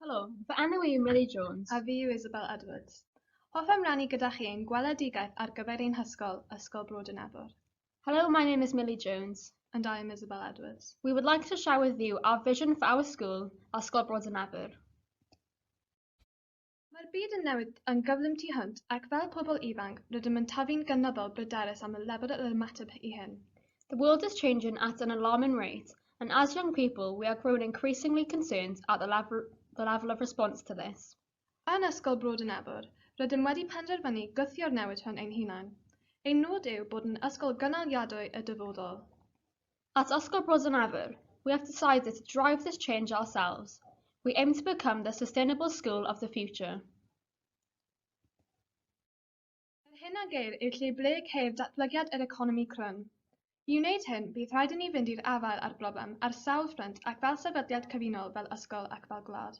Helo, fy enw i yw Milly Jones. A fi yw Isabel Edwards. Hoffem rannu gyda chi ein gweledigaeth ar gyfer ein hysgol, Ysgol Bro Dynefwr. Hello, my name is Milly Jones. And I am Isabel Edwards. We would like to share with you our vision for our school, Ysgol Bro Dynefwr. Mae'r byd yn newid yn gyflym tu hwnt ac fel pobl ifanc rydym yn tyfu'n gynyddol bryderus am y lefel yr ymateb i hyn. The world is changing at an alarming rate and as young people we are growing increasingly concerned at the level, the level of response to this. Yn Ysgol Bro Dynebwr, rydym wedi penderfynu gwthio'r newid hwn ein hunain. Ein nod yw bod yn ysgol gynaliadwy y dyfodol. At Oscar Bros yn Ewyr, we have decided to drive this change ourselves, we aim to become the sustainable school of the future. Yr hyn a geir yw lle ble ceir datblygiad yr economi crwn. I wneud hyn, bydd rhaid i ni fynd i'r afael â'r broblem ar sawl ffrynt ac fel sefydliad cyfunol, fel ysgol ac fel gwlad.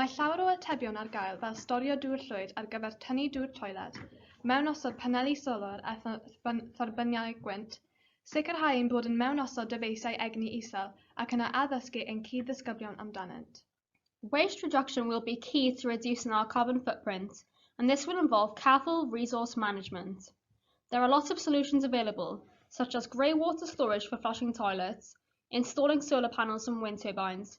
Mae llawer o atebion ar gael fel storio dŵr llwyd ar gyfer tynnu dŵr toiled, mewnosod paneli solar a thorbyniau gwynt, sicrhau ein bod yn mewnosod dyfeisiau egni isel ac yna addysgu ein cyd-ddisgyblion amdanynt. Waste reduction will be key to reducing our carbon footprint and this will involve careful resource management. There are lots of solutions available, such as grey water storage for flushing toilets, installing solar panels and wind turbines,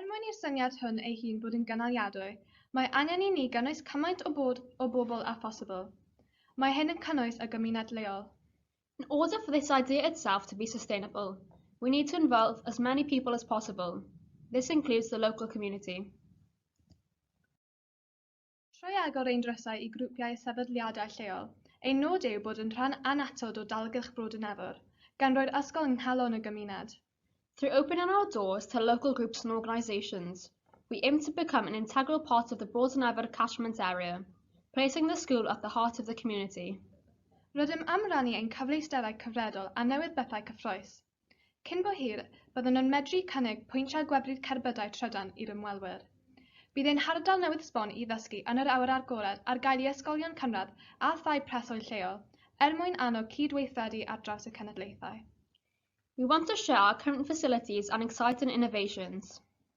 Er mwyn i'r syniad hwn ei hun fod yn gynaliadwy, mae angen i ni gynnwys cymaint o bod o bobl â phosibl. Mae hyn yn cynnwys y gymuned leol. In order for this idea itself to be sustainable, we need to involve as many people as possible, this includes the local community. Trwy agor ein drysau i grwpiau a sefydliadau lleol, ein nod yw bod yn rhan annatod o dalgylch Brodyn Efor, gan roi'r ysgol yng nghalon y gymuned. Through opening our doors to local groups and organisations, we aim to become an integral part of the Broughton Efor catchment area, placing the school at the heart of the community. Rydym am rannu ein cyfleusterau cyfredol a newydd bethau cyffrous. Cyn bo hir, byddwn yn medru cynnig pwyntiau gwefru'r cerbydau trydan i'r ymwelwyr. Bydd ein hardal newydd sbon i ddysgu yn yr awyr agored ar gael i ysgolion cynradd a thai preswyl lleol, er mwyn annog cyd-weithredu ar draws y cenedlaethau. We want to share our current facilities and excite in innovations.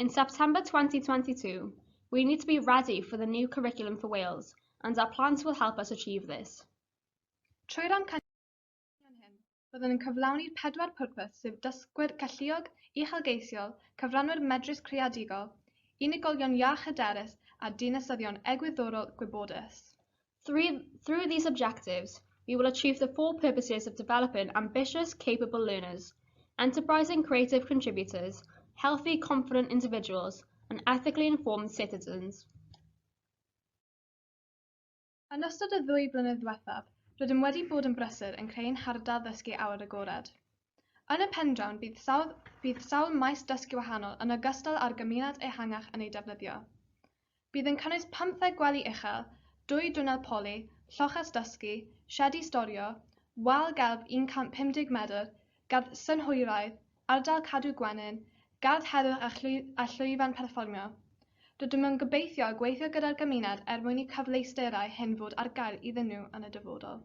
In September 2022, we need to be ready for the new curriculum for Wales and our plans will help us achieve this. Trwy'r amcanion hyn, byddwn yn cyflawni pedwar pwrpas sef dysgwyr galluog, uchelgeisiol, cyfranwyr medrus creadigol, unigolion iach hyderus a dinasyddion egwyddorol gwybodus. Through, through these objectives, we will achieve the four purposes of developing ambitious, capable learners, enterprising creative contributors, healthy, confident individuals, and ethically informed citizens. Yn ystod y ddwy flynedd ddiwethaf, rydym wedi bod yn brysur yn creu'n hardal ddysgu awyr agored. Yn y pendrawn, bydd sawl, bydd sawl maes dysgu wahanol yn ogystal â'r gymuned ehangach yn ei defnyddio. Bydd yn cynnwys pymtheg gwely uchel, dwy dwnnel poli, lloches dysgu, siedi storio, wal gelf 150 medr, gardd synhwyraidd, ardal cadw gwenyn, gardd heddwch a llwyf a llwyfan perfformio. Rydym yn gobeithio gweithio gyda'r gymuned er mwyn i cyfleusterau hyn fod ar gael iddyn nhw yn y dyfodol.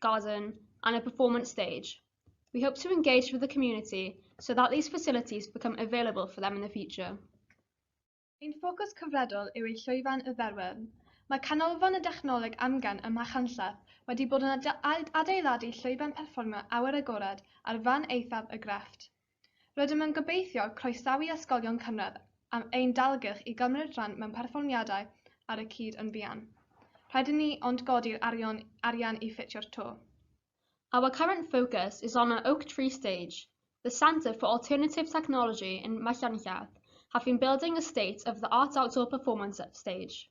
garden and a performance stage. We hope to engage with the community so that these facilities become available for them in the future. Ein ffocws cyfredol yw ei llwyfan y Dderwen. Mae Canolfan y Dechnoleg Amgen ym Machynlleth wedi bod yn adeiladu llwyfan perfformio awyr agored ar fan eithaf y grefft. Rydym yn gobeithio croesawu ysgolion cynradd am ein dalgylch i gymryd rhan mewn perfformiadau ar y cyd yn fuan. Rhaid i ni ond godi'r arion arian i ffitio'r to. Our current focus is on our Oak Tree Stage, the Centre for Alternative Technology in Machynlleth, have been building a state of the art outdoor performance stage.